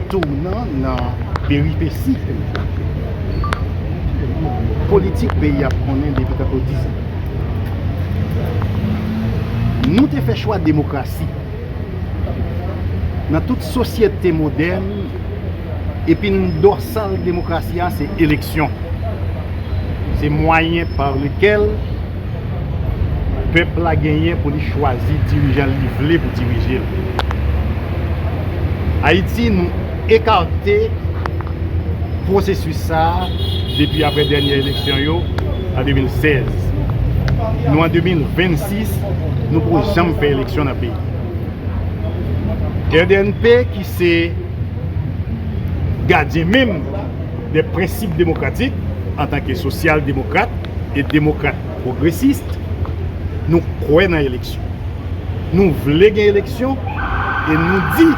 Tounan nan peripesi politik peyi a konnen depi tankou dizan. Nou te fè chwa demokrasi nan tout sosyete modèn. Epin dòsal demokrasi a se eleksyon. Se mwayen pa lekel pèp la genyen pou li chwazi dirijan li vle pou dirije l. Ayiti nou ekate pwosesis sa a depi apre dènye eleksyon yo an 2016. Nou an 2026, nou poko janm fè eleksyon nan peyi. Rnp ki se. gadyen menm de prensip demokratik antanke sosyal demokrat e demokrat pwogresis nou kwè nan eleksyon nou vle gen eleksyon e nou di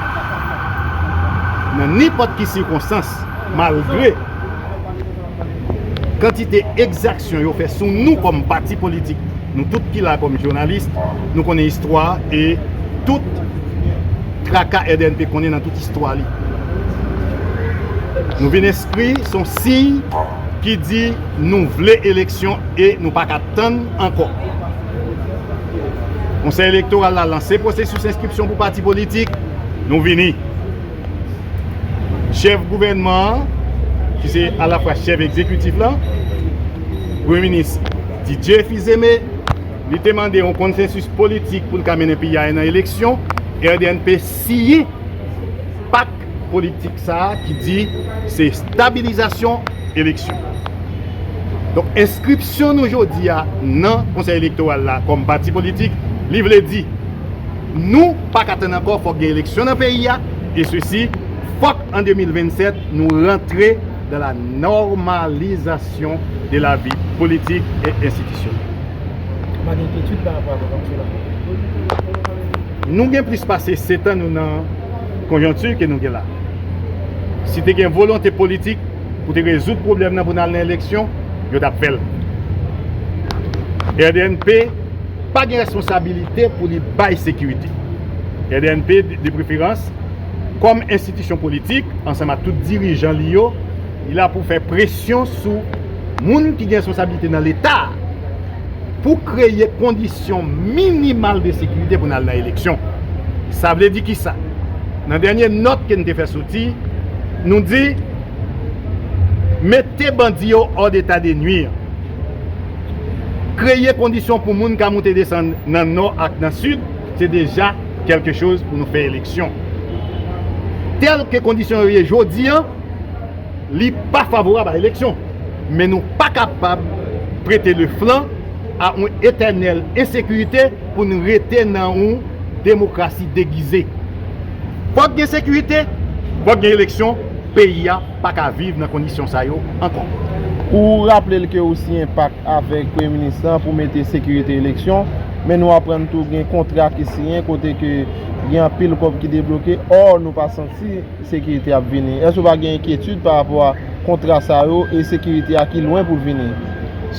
nan nenpòt ki sikonstans malgre kantite ekzaksyon yo fè sou nou kòm pati politik, nou tout ki la kòm jounalis, nou konnen istwa e tout traka RDNP konnen nan tout istwa li. Nou vin enskri son siy ki di nou vle eleksyon e nou pa ka tann ankò. Konsèy elektoral la lanse pwosesis enskripsyon pou pati politik, nou vini. Chèf gouvènman an, ki se alafwa chèf egzekitif la, Premye Minis Didier Fils-Aimé, li te mande yon konsensis politik pou l ka mennen peyi a nan eleksyon, RDNP siyen pak politik sa a ki di se stabilizasyon eleksyon. Donk enskripsyon nou jodi a nan Konsèy Elektoral la kòm pati politik, li vle di. Nou paka tann ankò fòk gen eleksyon nan peyi a e sesi fòk an 2027 nou rantre dans la normalisation de la vie politique et institutionnelle. Ou pa gen enkyetid pa rapò ak konjonkti la? Nou gen plis pase setan nou nan konjonkti ke nou gen la. Si te gen volonte politik pou te rezoud pwoblèm nan pou n al nan eleksyon, yo t ap fè l. Rdnp. pa gen responsabilite pou li bay sekirite. Kdnp, de preferans, kòm enstitisyon politik, ansanm ak tout dirijan li yo, li la pou fè presyon sou moun ki gen responsabilite nan Leta a pou kreye kondisyon minimal de sekirite pou n al nan eleksyon. Sa vle di kisa? Nan dènye nòt ke n te fè soti, nou di, mete bandi yo hors d'état de nuire. Kreye kondisyon pou moun ka moute desann nan nò ak nan sid se deja kèlke choz pou nou fè eleksyon. Tèl ke kondisyon yo ye jodi an, li pa favorab a eleksyon. Men nou pa kapab prete le flan a yon etènèl ensekirite pou nou rete nan yon demokrasi degize. Fòk gen sekirite, fòk gen eleksyon, peyi a pa ka viv nan kondisyon sa yo ankò. Ou raple l ke ou siyen pak avèk Premye Minis lan pou mete sekirite eleksyon, men nou aprann tou gen kontra ki siyen kote ke gen anpil kòb ki debloke, ò nou pa santi sekirite ap vini. Èske ou pa gen enkyetid pa rapò a kontra sa yo e sekirite a ki lwen pou l vini?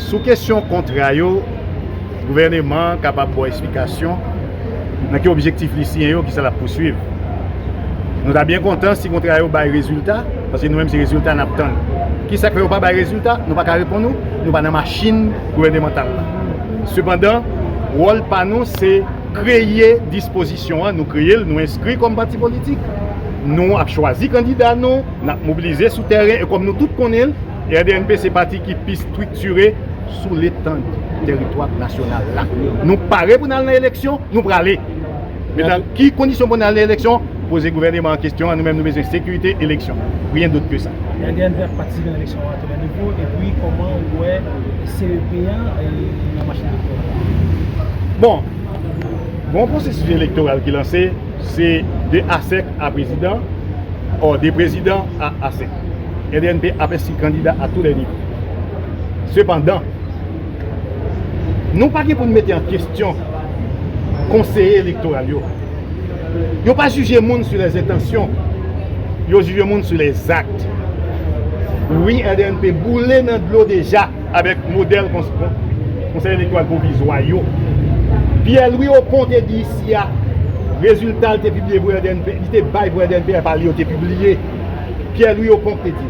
Sou kesyon kontra yo, gouvèneman an kapab ba w esplikasyon. nan ki objektif li siyen yo, kisa l ap pouswiv. Nou ta byen kontan si kontra yo bay rezilta, paske nou menm se rezilta n ap tann. Kisa k fè yo pa bay rezilta? Nou pa ka reponn ou, nou pa nan machin gouvènemantal la. Sepandan, wòl pa nou se kreye dispozisyon an, nou kreye l, nou enskri kòm pati politik, nou ap chwazi kandida nou, n ap mobilize sou tèren, e kòm nou tout konnen, RDNP se pati ki pi striktire, sou letand teritwa nasyonal la. Nou pare pou n al nan eleksyon, nou prale. Men nan ki kondisyon pou n al nan eleksyon, poze gouvèneman an kestyon an, nou menm nou bezwen sekirite eleksyon. Ryen dot ke sa. Yandéan Jacques patisipe nan eleksyon an tou nan depo, epi kòman ou wè CEP an nan machin elektoral la? Bon, gon pwosesis elektoral ki lanse, se de asèk a prezidan, ò de prezidan a asèk. Yandéan P ap enskri kandida a tou lè nivou. Sepandan, nou pa gen pou n mete an kesyon konseye elektoral yo. Yo pa jije moun sou lè zentansyon, yo jije moun sou lè zakt. Wi, RDNP boule nan dlo deja avèk modèl konseye elektoral pwovizwa yo. Pyè Lwi Okon te di isi a, rezilta li te bay pou RDNP, li te bay pou RDNP, pa li yo te pibliye. Pyè Lwi Okon te di.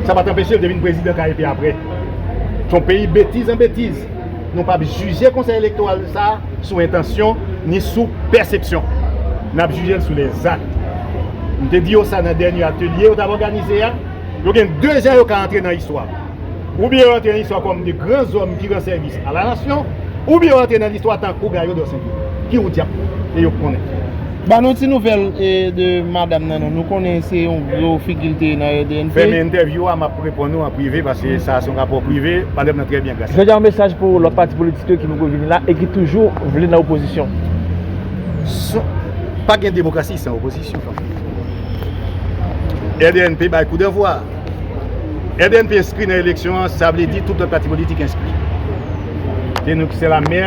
Sa pat anpeche l te vin prezidan kay epi aprè. Se yon peyi betiz an betiz. Nou pap jije konsèy elektoral sa a sou entansyon ni sou pèsepsyon. Nap jije l sou lè zak. M te di yo sa nan dènye atelye yo t ap òganize a. Yo gen 2 jan yo ka antre nan istwa. Oubyen yo antre nan listwa kòm de gran zòm ki ran sèvis a la nasyon, oubyen yo antre nan listwa tankou Gayo Dò Senpye. Ki wout y ap pran? E yo k konnen. Ban nou ti nouvèl de madam nan non. Nou konnen se yon gwo figi l te ye nan RDNP. Fèmen entèvyou a, m ap reponn ou an prive paske sa a se yon rapò prive. Madam nan trè byen gras. Jodi a yon mesaj pou lòt pati politik yo ki poko vini la e ki toujou vle nan opozisyon. Pa gen demokrasi san opozisyon fanmi. RDNP bay kou danvwa a. FNP enskri nan eleksyon an, sa vle di tout lòt pati politik enskri. Se nou ki se la mè,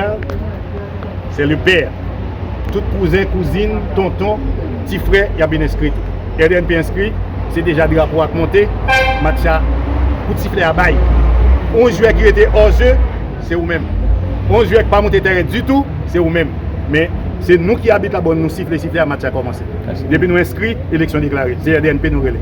se le pè. Tout kouzen, kouzin, tonton, ti frè, y ap vin enskri tou. FNP enskri, se deja drapo a k monte, match la, kout siflè a bay. On jwè ki rete ò je, se ou menm. On jwè ki pa monte tèren ditou, se ou menm. Men, se nou ki abit la, bon nou sifle siflè a, match la kòmanse. Depi nou enskri, eleksyon deklare. Se FNP nou rele.